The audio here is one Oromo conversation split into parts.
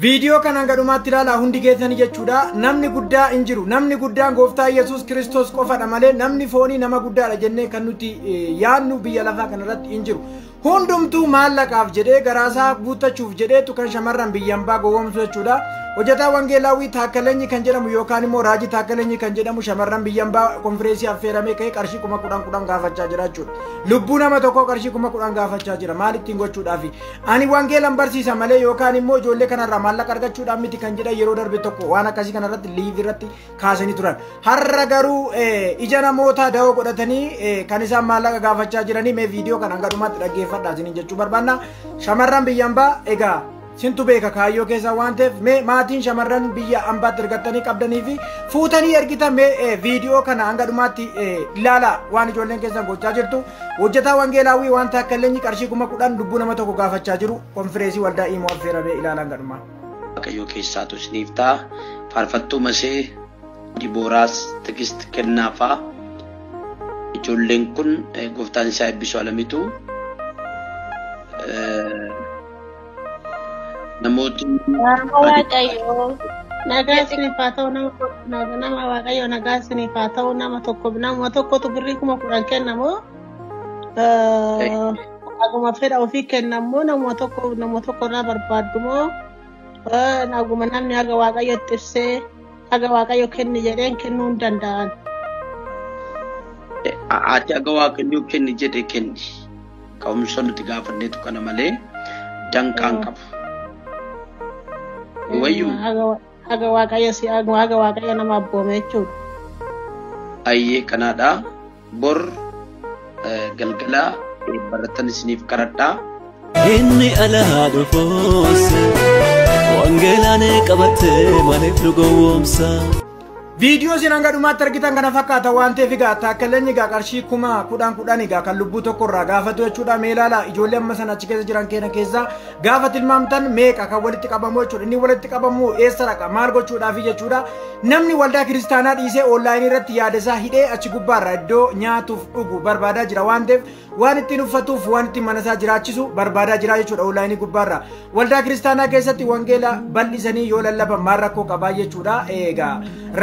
Viidiyoo kanaan gadhumaatti ilaalaa hundi keessanii jechuudha. Namni guddaa hin jiru. Namni guddaan gooftaa Yesuus Kiristoos qofadha malee namni foonii nama guddaadha jennee kan nuti yaadnu biyya lafaa kanarratti hin jiru. Hundumtuu maallaqaaf jedhee garaasaa guuttachuuf jedheetu kan shamarran biyya hambaa gowwoomsu jechuudha. Hojjetaa Wangeelaawwii Taakkalenyi kan jedhamu yookaan immoo Raajii Taakkalenyi kan jedhamu shamarran biyya hambaa konfireensii affeeramee ka'ee qarshii kuma kudhan kudhan gaafachaa jira jechuudha. Lubbuu nama tokkoo qarshii kuma kudhan gaafachaa jira. Maalittiin gochuudhaafi? Ani wangeelan barsiisa malee yookaan immoo ijoollee kanarraa maallaqa argachuudhaan miti kan jedhan yeroo darbe tokko waan akkasii kanarratti liiv irratti kaasanii turan. Har'a garuu ija namootaa da'oo godhatanii kan isaan maallaqa gaafachaa jiranii mee viidiyoo kana hanga dhumaatti dhaggeeffadhaa isiniin jechuu barbaanna. Shamarran biyya ambaa egaa sintu beeka kaayyoo keessaa waan ta'eef mee maatiin shamarran biyya ambaatti ergattanii qabdanii fi fuutanii ergitan mee viidiyoo kana hanga dhumaatti ilaalaa waan ijoolleen keessan gochaa jirtu. Hojjetaa Wangeelaawwii waan taakkallenyi qarshii kuma kudhan lubbuu nama tokko gaafachaa jiru konfireesii waldaa imoo affeeramee ilaalaan gadhumaa. Waaqayyoo keessaatu isiniif ta'a. Faarfattuu Masee, Dibooraas, Tigist, Kennaafaa. Ijoolleen kun eh, gooftaan isaa eebbisu alamitu. Eh, Namootni Nama adi Waaqayyoo nagaa isiniif haa ta'u nama tokko- nama nama Waaqayyoo nagaa isiniif haa ta'u nama tokko nama tokkotu birrii kuma kudhan kennamoo naguma fedha ofii kennamoo nama tokko nama tokko irraa barbaaddumoo eh, naguma namni haga Waaqayyootti ibsee haga Waaqayyo kenni jedheen kennuu hin danda'an. ati aga waaqayyoo kenni jedhe kenni. Ka'umsa nuti gaafanneetu kana malee danqaa hin qabu. Ni wayyu Haga wa- haga waaqayyo si eegu, haga waaqayyo nama abboome jechuudha. ayyee kanaadha. Bor eh, galgala eh, barattan isiniif qaradhaa. Inni alaa dhufuus wangeelaan qabattee maaliif nu gowwoomsa? Viidiyoo isin hanga dhumaatti argitan kana fakkaata waan ta'eef egaa taakkaleenyi egaa qarshii kuma kudhan kudhan egaa kan lubbuu tokko irraa gaafatu jechuudha mee ilaala ijoollee amma sana achi keessa jiran keenya keessaa gaafa tilmaamtan meeqa kan walitti qabamu jechuudha inni walitti qabamu eessa dhaqa maal gochuudhaafi jechuudha namni waldaa kiristaanaa dhiisee oonlaayinii irratti yaada isaa hidhee achi gubbaarra iddoo nyaatuuf dhugu barbaadaa jira waan ta'eef waan ittiin uffatuuf waan ittiin mana isaa jiraachisu barbaadaa jira jechuudha onlaayinii gubbaarra waldaa kiristaanaa keessatti wangeela bal'isanii yoo lallaban maal rakkoo qabaa jechuudha eegaa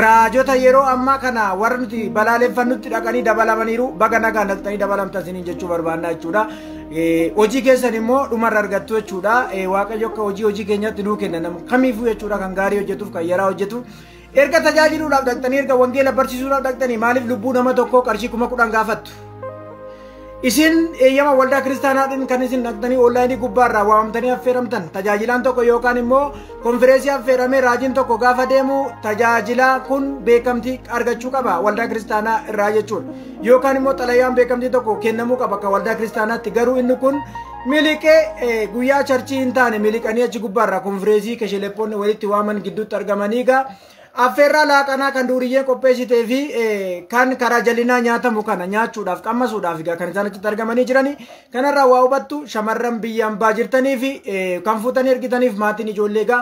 raajota yeroo ammaa kana warra nuti balaaleffannutti dhaqanii dabalamaniiru baga nagaa naqxanii dabalamtan isiniin jechuu barbaannaa jechuudha hojii keessan immoo dhumarra argattu jechuudha waaqayyo akka hojii hojii keenyatti nuu kenna nama kamiifuu jechuudha kan gaarii hojjetuuf kan yaraa hojjetu Erga tajaajiluudhaaf dhaqxanii erga wangeela barsiisuudhaaf dhaqxanii maaliif lubbuu nama tokkoo qarshii kuma kudhan gaafattu? Isin eeyyama waldaa kiristaanaatiin kan isin dhaqxanii onlaayinii gubbaarraa waamamtanii affeeramtan tajaajilaan tokko yookaan immoo konfireensii affeeramee raajiin tokko gaafa deemu tajaajilaa kun beekamtii argachuu qaba waldaa kiristaanaa irraa jechuudha. Yookaan immoo xalayaan beekamtii tokko kennamuu qaba akka waldaa kiristaanaatti garuu inni kun Miliqee guyyaa charchii hin taane miliqanii achi gubbaarraa konfireesii kesheleppoonni walitti waaman gidduutti argamanii egaa affeerraa laaqanaa kan duuriyyeen qopheessitee fi kan karaa jallinaa nyaatamu kana nyaachuudhaaf qammasuudhaaf egaa kan isaan achitti argamanii jirani kanarraa waa hubattu shamarran biyya ambaa jirtanii fi kan fuutanii ergitaniif maatiin ijoollee egaa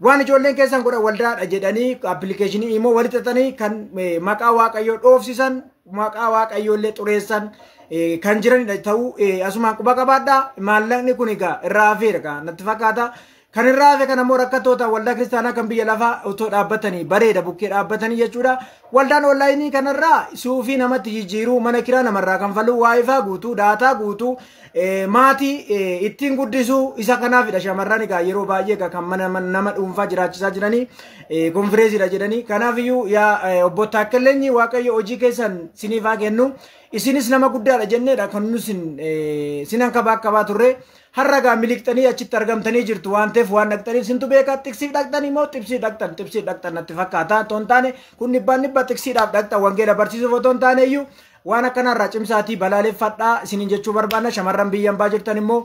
Waan ijoolleen keessan godhan waldaadha jedhanii appilikeeshinii immoo walitti xaxanii kan eh, maqaa waaqayyoo dhoofsisan maqaa waaqayyoo illee xureessan eh, kan jiranidha ta'uu eh, asumaan quba qabaadha maallaqni kun egaa irraa hafeera egaa natti fakkaata kan irraa hafe kan ammoo rakkattoota waldaa kiristaanaa kan biyya lafaa otoo dhaabbatanii bareeda bukkee dhaabbatanii jechuudha waldaan onlaayinii kanarraa suufii namatti jijjiiruu mana kiraa namarraa kan faluu waayifaa guutuu daataa guutuu Maatii ittiin guddisu isa kanaafidha shamarran egaa yeroo baay'ee egaa kan mana nama dhuunfaa jiraachisaa jiranii konfireesiidha jedhanii kanaafiyyuu yaa obbo Taakkaleenyi waaqayyo hojii keessan siniif haa kennu isinis nama guddaadha jenneedha kan nu sin sinan kabaa qabaa turre har'a egaa miliqxanii achitti argamtanii jirtu waan ta'eef waan dhaqxaniif sintu beekaa tiksiif dhaqxanii moo tibsii dhaqxan tibsii dhaqxan natti fakkaata otoo hin taane kun dhibbaan dhibba tiksiidhaaf dhaqxan wangeela barsiisuuf otoo hin taane iyyuu Waan akkanaa irraa cimsaatii balaaleffadhaa isiniin jechuu barbaanna shamarran biyya ambaa jirtan immoo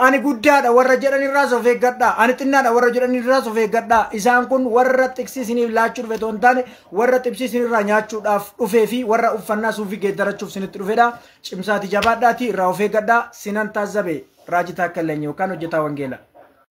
ani guddaadha warra jedhan irraas of eeggadhaa ani xinnaadha warra jedhan irraas of eeggadhaa isaan kun warra xiqsii isiniif laachuu dhufe otoo hin taane warra xibsii isinirraa nyaachuudhaaf dhufee fi warra uffannaa suufii geeddarachuuf isinitti dhufedha cimsaatii jabaadhaatii irraa of eeggadhaa sinan taazzabe raajii taakkallanyi yookaan hojjetaa wangeela.